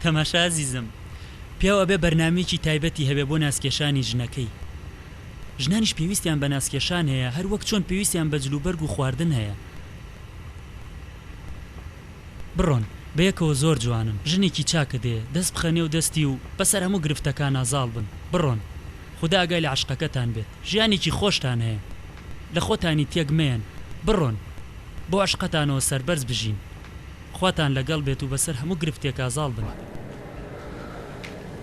تەماشا ئەزیزم پیاو ئەبێ بەرنامەیەکی تایبەتی هەبێ بۆ ناسکێشانی ژنەکەی ژنانیش پێویستیان بە ناسکێشان هەیە هەر وەک چۆن پێویستیان بە جلوبەرگ و خواردن هەیە بڕۆن بەیەکەوە زۆر جوانن ژنێکی چاکە دێ دەست بخە نێو دەستی و بەسەر هەموو گرفتەکانا زاڵ بن بڕۆن خودا ئاگای لە عەشقەکەتان بێت ژیانێکی خۆشتان هەیە لە خۆتانی تێک مەیەن بڕۆن بۆ عەشقەتانەوە سەربەرز بژین. خواتان لەگەڵ بێت و بەسەر هەموو گرفتێکا زاڵ بن.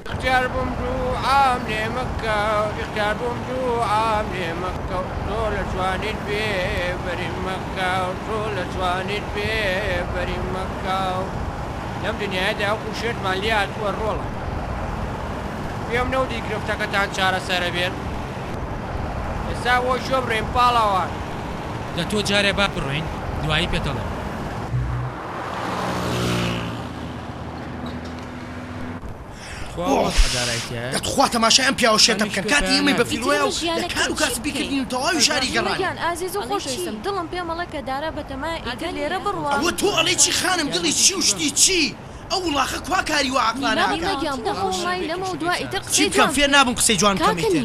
ئیختیار بووم دووعام لێ مەکە ئیختیار بووم دووعام لێ مەکە تۆ لە جوانیت بێ بەریم مەکە تۆ لە جوانیت بێ بەریم مەکە لەم دنیایەدا وەکو شێتمان لێ هاتووە ڕۆڵە پێم نەوتی گرفتەکەتان چارەسەرەبێت ئێستا بۆ کوێ بڕۆین پاڵەوان. لە تۆ جارێ با بڕۆین دوایی پێت ئەڵێم. تخوا تەماشای ئەم پیاوە شێتە بکەن کاتی ئێمەی بە فیروەیە و لە کار و کاسبی کردنی و تەواوی شاری گەڕانین. ئەوە تۆ ئەڵێی چی خانم دڵی چی و شتی چی؟ ئەو وڵاخە کوا کاری وا عەقڵانە ئەکا؟ چی بکەم فێر نابم قسەی جوان بکەم ئیتر.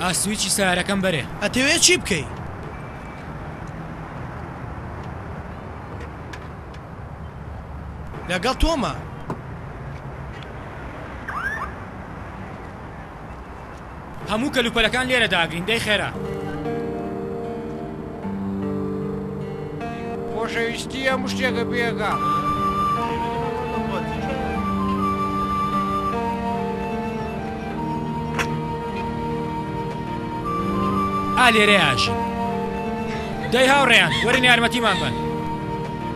ئا سویچی سەیارەکەم بەرێ. ئەتەوێ چی بکەی؟ لەگەڵ تۆمە. هەموو کەلوپەلەکان لێرە داگرین دەی خێرا. خۆشەویستی هەموو شتێکە پێکا. ئا لێرەیا ئەژین. دەی هاوڕێیان وەرن یارمەتیمان بەن.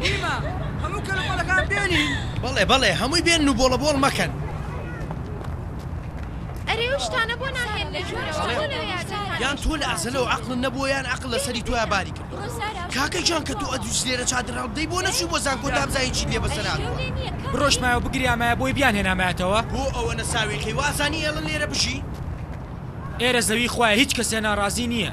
نیمە، هەموو کەلوپەلەکان بێنین. بەڵێ بەڵێ، هەمووی بێنن و بۆڵەبۆڵ مەکەن. ئەرێ ئەو شتانە بۆ ناهێن لە ژوورەوە؟ بۆ لە یادگاری؟ یان تۆ لە ئەزەلەوە عەقڵت نەبووە یان عەقڵ لەسەری تۆیا باری کردووە. کاکە گیان کە تۆ ئەدووس لێرە چادر هەڵبدەی بۆ نەچووی بۆ زانکۆ تا بزانین چیت لێ بەسەر هاتووە. بڕۆشتمایە و بگریامایە بۆی بیانهێنامایەتەوە. بۆ ئەوەنە ساویلکەی؟ وازانی ئێڵن لێرە بژی؟ ئێرە زەوی خوایە هیچ کەسێ ناڕازی نییە.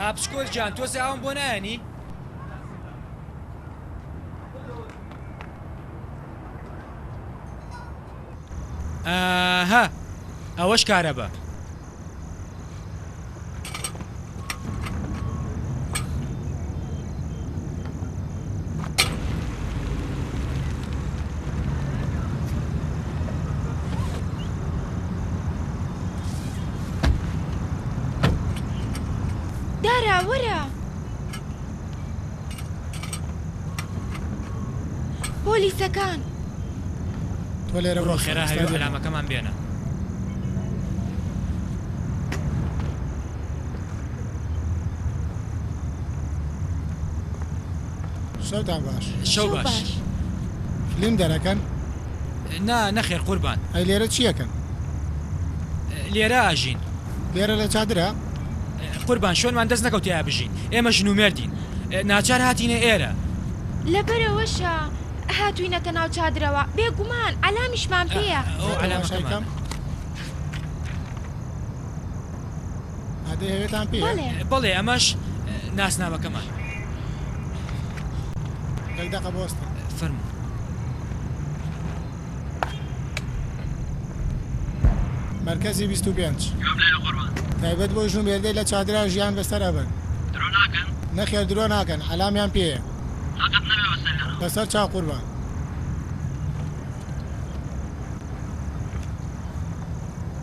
ئاپچکۆل گیان تۆزێ ئاوم بۆ نایەنی؟ ئاها ئەوەش کارە بە دارا وەرە پۆلیسەکان تۆ لێرە بڕۆ خێرا هەوێ ئەلامەکەمان بێنە شەوتان باش شەو باش فلیم دەرەکەن؟ نا نەخێر قوربان ئەی لێرە چیەکەن؟ لێرە ئاژین لێرە لە چادرە؟ قوربان شوێنمان دەست نەکەوت تێیا بژین ئێمە ژن و مێردین ناچار هاتینە ئێرە لەبەرئەوەشە هاتووینەتە ناو چادرەوە بێگومان ئەلامیشمان پێیە ئەو ئەلامەکەمان. بەڵێ ئەمەش ناسنامەکەمان فەرمو مەرکەزی 25 تایبەت بۆ ژوو مێردەی لە چادرا ژیان بەسەر ئەبەن نەخێر درۆ ناکەن عەلامیان پێ بەسەر چا قوربان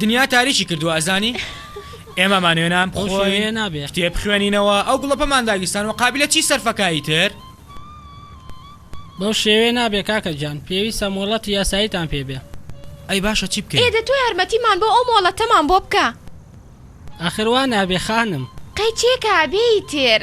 دنیا تاریکی کردوە ئەزانی ئێمە مانوێ نان بخۆین کتێب بخوێنینەوە ئەو گوڵە پەمان داگیرسان وە قابیلە چی سەرفەکە ئیتر. بەو شێوەیە نابێ کاکە گیان پێویستە مۆڵەتی یاساییتان پێ بێ. ئەی باشە چی بکەین. ئێ دە تۆ یارمەتیمان بۆ ئەو مۆڵەتەمان بۆ بکە. ئاخر وا نابێ خانم. قەی تێک ئابێ ئیتر.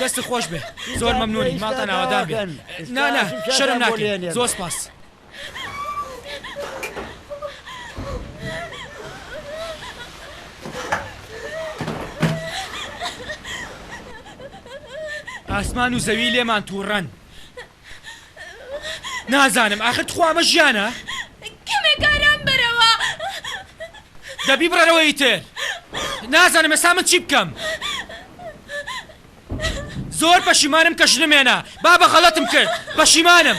دەستت خۆش بێ زۆر مەمنونی ماڵتان ئاوادان بێ نا نا شەرم ناکەی زۆر سپاس. ئاسمان و زەوی لێمان توڕەن. نازانم ئاخر تخوا ئەمە ژیانە؟ کەمێک ئارام بەرەوە. دە بیبڕەرەوە ئیتر. نازانم ئێستا من چی بکەم. زۆر پەشیمانم کە ژنم هێنا. بابە غەڵەتم کرد. پەشیمانم.